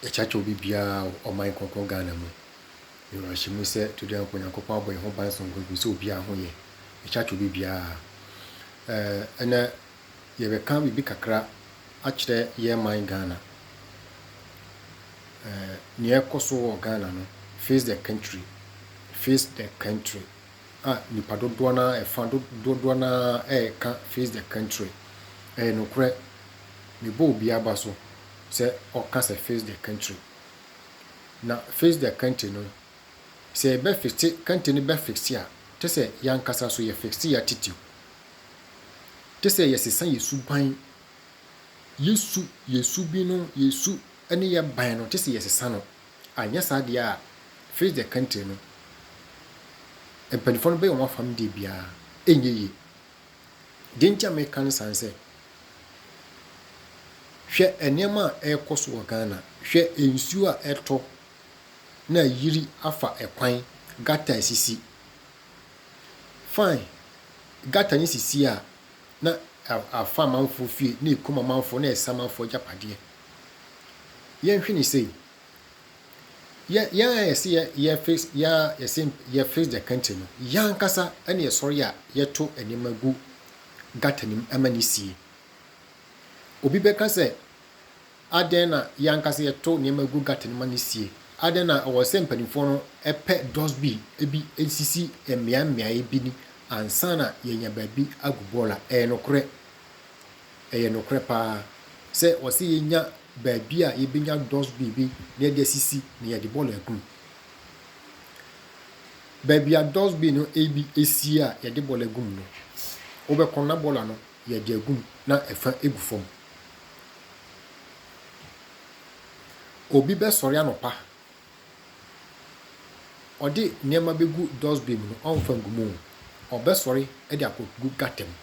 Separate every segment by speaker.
Speaker 1: Yɛkyerɛkyerɛ obi biara wɔ ɔman kronkron Ghana mu. Yɛwɔ awerɛhyɛmu sɛ to dɛn mpo Nyankopɔn abɔ yɛn ho ban sononko gu sɛ obiara ho yɛ. Yɛkyerɛkyerɛ obi biara. Eh, ɛnɛ yɛbɛka biribi kakra akyerɛ yɛn man Ghana. Eh, nea ɛkɔ so wɔ Ghana no, face the country, face the country. a nnipa dodoɔ no ara, ɛfã dodoɔ no ara reka Face the Country. Ɛyɛ nokorɛ, mebɔ obi aba so sɛ ɔka sɛ Face the Country. Na Face the Country no, sɛ yɛbɛ fixe country no bɛ fixe a, te sɛ yɛankasa nso yɛ fixe yɛ attitude. Te sɛ yɛsesa yɛ suban, yɛ su, yɛ su bi no, yɛ su ne yɛ ban no, te sɛ yɛsesa no. Anyɛ saa deɛ a, Fritz der Kanter no mpaninfoɔ no bɛyɛ wɔn afam deɛ biara ɛnyɛ yie. Deɛ nti a meka no saa ne sɛ, hwɛ nneɛma a ɛrekɔ so wɔ Ghana, hwɛ nsuo a ɛtɔ na ayiri afa kwan, gutter a ɛsisi. Fine, gutter no sisi a na afa amanfoɔ fie, na ɛkum amanfoɔ, na ɛsɛ amanfoɔ agyapadeɛ. yɛnhwɛ no sei, yɛn yɛn a yɛse yɛ yɛ fix yɛn a yɛse yɛ fix the country no, yɛn ankasa ɛna yɛsɔre a yɛto nneɛma gu gutter no mu ɛma ne sie. Obi bɛka sɛ adɛn na yɛn ankasa yɛto nneɛma gu gutter no ma ne sie? Adɛn na ɛwɔ sɛ mpanimfoɔ no ɛpɛ dustbin ebi esisi mmeae mmeae bi ni ansa na yɛnya baabi agu bɔɔla? Ɛyɛ nokorɛ. Ɛyɛ nokorɛ paa sɛ wɔse yɛnya baabi a yɛbɛnya dustbin bi na yɛde asisi na yɛde bɔɔlo agu mu. Baabi a dustbin no bi sie a yɛde bɔɔlo agu mu no, wobɛkɔ na bɔɔlo ano yɛde agu mu na ɛfa gu fam. Obi bɛsɔre anɔpa Ɔde nneɛma begu dustbin mu no, ɔmfa ngu mu. Ɔbɛsɔre de akɔgu gutter mu.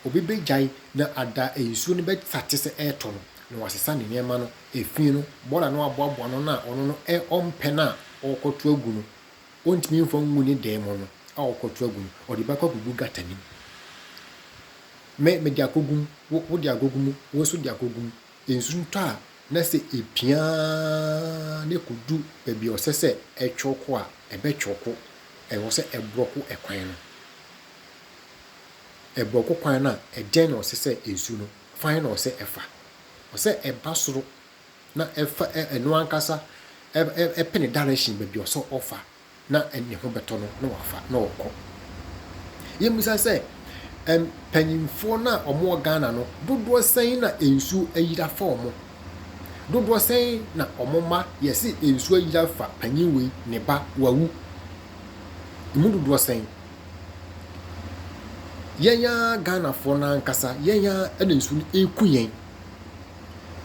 Speaker 1: Obi begyae na ada a nsuo no bɛsa te sɛ ɛretɔ no, na wasesa ne nneɛma no, efi no, bɔɔla no aboaboa no na ɔno no ɛ ɔmpɛ no a ɔrekɔto agu no, ɔntumi mfa ngu ne dan mu no a ɔrekɔto agu no, ɔde bɛkɔ akɔgu gutter no mu. Me, mede akɔgu mu, wo, wode akɔgu mu, wo nso de akɔgu mu. Nsu no tɔ a, na sɛ epia ara na ekodu baabi a ɔsɛ sɛ ɛtwew kɔ a, ɛbɛtwew kɔ. Ɛwɔ sɛ ɛborɔ kɔ kwan no. Ɛborɔ kɔ kwan no a, ɛdɛn na ɔsɛ sɛ nsu no fa? Hwan na ɔsɛ sɛ ɛfa? Ɔsɛ sɛ ɛba soro na ɛfa ɛno ankasa, ɛpene direction baabi a ɔsɛ sɛ ɔfa. na ne ho bɛtɔ no na wafa na ɔkɔ. Yɛmmisa sɛ, mpanyimfoɔ no a wɔwɔ Ghana no, dodoɔ sɛn na nsuo ayiri afa wɔn? Dodoɔ sɛn na wɔn mma yɛse nsuo ayiri afa panyin wei, ne ba, wawu? Ɛmu dodoɔ sɛn? Yɛn ara Ghanafoɔ no ankasa, yɛn ara na nsuo no ɛreku yɛn.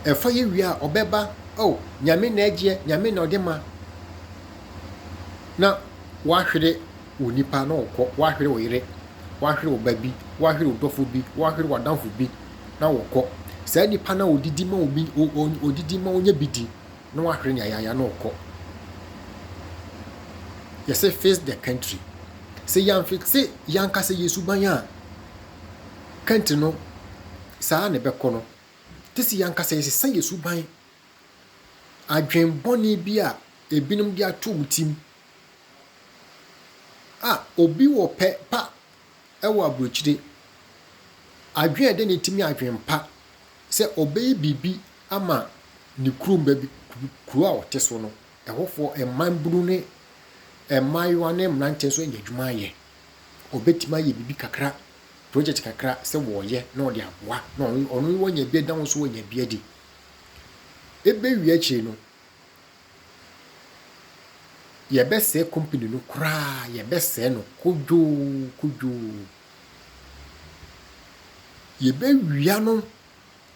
Speaker 1: Ɛfa yɛ wie a, ɔbɛba, oh, Nyame na ɛgyeɛ, Nyame na ɔde ma. na woahwere wo nipa na ɔkɔ, woahwere wo yere, woahwere wo ba bi, woahwere wo dɔfo bi, woahwere w'adamfo bi na wɔkɔ. Saa nipa no a odidi ma obi, odidi ma onya bi di na wahwere no yayaaya na ɔkɔ. Yɛsɛ face the country. Sɛ yɛamfe se yɛanka sɛ yɛ suban a country no saa na ɛbɛkɔ no, te se yɛanka sɛ yɛsesa yɛ suban Adwen bɔne bi a ebinom de ato wo tsim a obi wɔ pɛ pa wɔ aburokyire. Adwen a ɛda ne tsim yɛ adwen pa sɛ ɔbɛyɛ biribi ama ne kurom baabi kuro a ɔte so no, ɛhɔfoɔ mmabunu ne mmaayewa ne mmeranteɛ nso anya adwuma ayɛ. Ɔbɛtumi ayɛ biribi kakra, project kakra sɛ wɔreyɛ na ɔde aboa na ɔno ɔno wanya bi da ho nso wanya bi adi. ebewie akyiri no, yɛbɛsɛe company no koraa, yɛbɛsɛe no kodwoo kodwoo. Yɛbɛwia no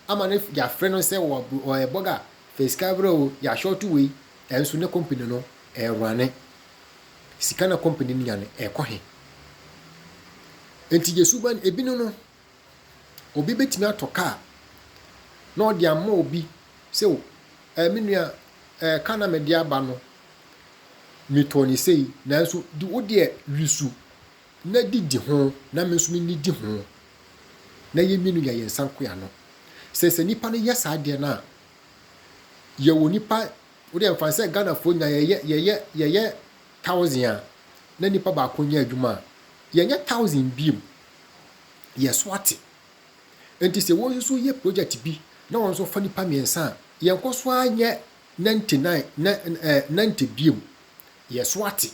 Speaker 1: ama no yɛafrɛ no sɛ ɔyɛ bɔga, fɛ sika brɛ o, yɛahyɔɔto wei, ɛnso ne company no ɛrerane. Sika na company no nya no ɛrekɔ he? Enti yɛ suban, ebinom no, Obi bɛtumi atɔ kaa na ɔde ama obi sɛ o ɛɛ me nua ɛɛ kaa na mede aba no metɔɔ no sei nanso di wo deɛ wi so na di di ho na me nso menni di ho na yɛn mmienu yɛ yɛn nsa nko ano. Sɛ sɛ nipa no yɛ saa deɛ no a yɛwɔ nipa wo deɛ mfa sɛ Ghanafoɔ nyinaa yɛyɛ yɛyɛ yɛyɛ thousand a na nipa baako nyɛ adwuma a yɛnyɛ thousand biem yɛn so ate. Enti sɛ wɔn nso yɛ projɛt bi na wɔn nso fa nnipa mmiɛnsa a, yɛnkɔ so ara nyɛ ninety nine, nɛ ɛɛ ninety biom. Yɛn so ate.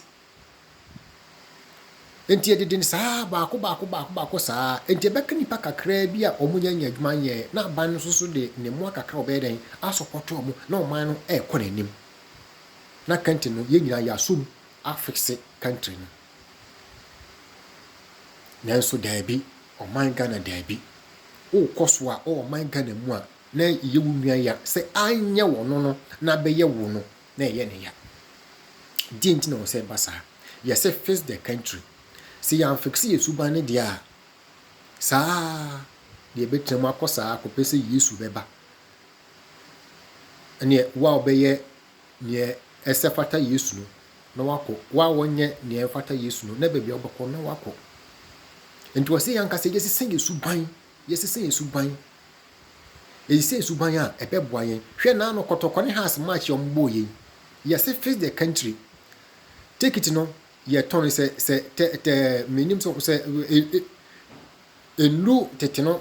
Speaker 1: Enti yɛde den saa ara, baako baako baako baako saa ara. Enti ɛbɛka nnipa kakraa bi a wɔn nnya nyɛ adwuma nyɛɛ na aban no nso so de ne mmoa kakra a ɔbɛyɛ dɛn asɔpɔto wɔn na ɔman no ɛrekɔ n'anim. Na country no yɛn nyinaa yɛasɔ mu afixe country no. Nanso daabi, ɔman Ghana daabi. Wo kɔ so a wɔ ɔman Ghana mu a na yɛ wo nua ya sɛ anyɛ wɔ no no na bɛyɛ wo no na yɛ no ya. Deɛ nti na wɔ sɛ ɛba saa? Yɛ sɛ fix the country. Sɛ yɛ anfix yɛ suban no deɛ a saa na yɛ bɛtena mu akɔ saa kɔpɛ sɛ Yesu bɛba. Ɛneɛ wo a wobɛyɛ nea ɛsɛ fata Yesu no, na wakɔ. Wo a wɔnyɛ nea ɛmfata Yesu no, na baabi a wobɛkɔ no, na wakɔ. Nti wɔ sɛ yɛn ankasa yɛsesa yɛn suban, yɛsesa yɛn suban, yɛsesa yɛn suban a ɛbɛboa yɛn. Hwɛ na ano kɔtɔkɔ ne house match a wɔbɔɔ yɛn. Yɛse face the country. Ticket no yɛtɔn sɛ sɛ tɛ tɛ menim sɛ sɛ nnuru tete no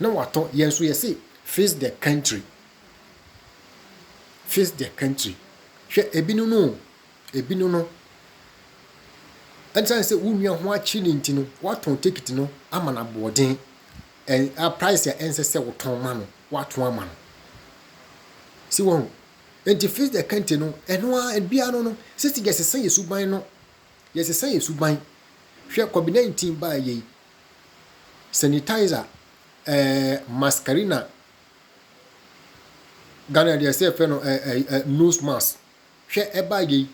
Speaker 1: na watɔ yɛn nso yɛse fix the country fix the country hwɛ ebinom no o ebinom no ɛnsan sɛ wo nua ho akyi ne nti no watɔn ticket no ama no aboɔden ɛn a price a ɛnsɛ sɛ wotɔn ma no watɔn ama no si wɔn ho nti fix the country no ɛno a bia no no sisi yɛsesa yɛ suban no yɛsesa yɛ suban hwɛ covid 19 baa yɛ yi sanitizer, ɛɛ mascarina, Ghana deɛ sɛ yɛfrɛ no ɛɛ nose mask. Hwɛ ɛbaa yɛ yi,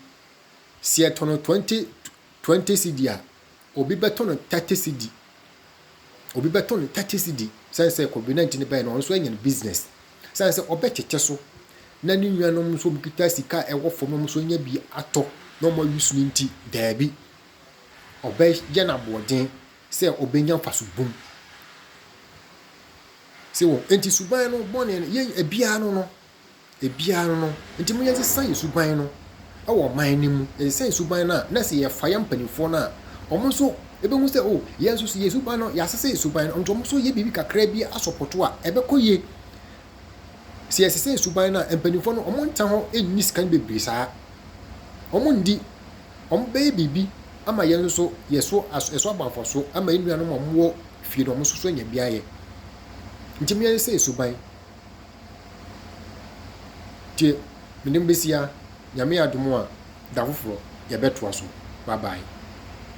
Speaker 1: sɛ yɛtɔ no twenty twenty cedi a, obi bɛtɔ no thirty cedi. Obi bɛtɔ no thirty cedi sɛn sɛ covid nineteen no bɛyɛ no ɔno nso anya ne business. Sɛn sɛ ɔbɛtete so na ne nuanom nso wɔn kita sika a ɛwɔ fam na wɔn nso anya bi atɔ na wɔn ayi so no nti, daabi. ɔbɛyɛ no aboɔden sɛ ɔbɛnya mfaso bum. Se wɔ, enti suban no, bɔne no, yɛn, ebiara no no, ebiara no no, enti mo yɛnsesa yɛ suban no wɔ ɔman no mu, yɛnsesa yɛ suban no a, na sɛ yɛfa yɛn mpanimfoɔ no a, wɔn nso ɛbɛhu sɛ, o, yɛn nso so yɛ suban no, yɛasesa yɛ suban no, nti wɔn nso yɛ biribi kakra bi asɔpɔto a, ɛbɛkɔ yie. sɛ yɛsesɛ suban no a, mpanimfoɔ no wɔnta hɔ nni sika no bebree saa. Wɔndi, wɔbɛyɛ biribi ama yɛn nso yɛ so as ɛso aba mfasoɔ ama yɛn nuanom a wɔwɔ fie no wɔn nso so anya bi ayɛ. Nti me yɛn sɛ suban. Nti mede mo bɛsi ha, Nyame adom a da foforɔ yɛbɛtoa so. Bye bye.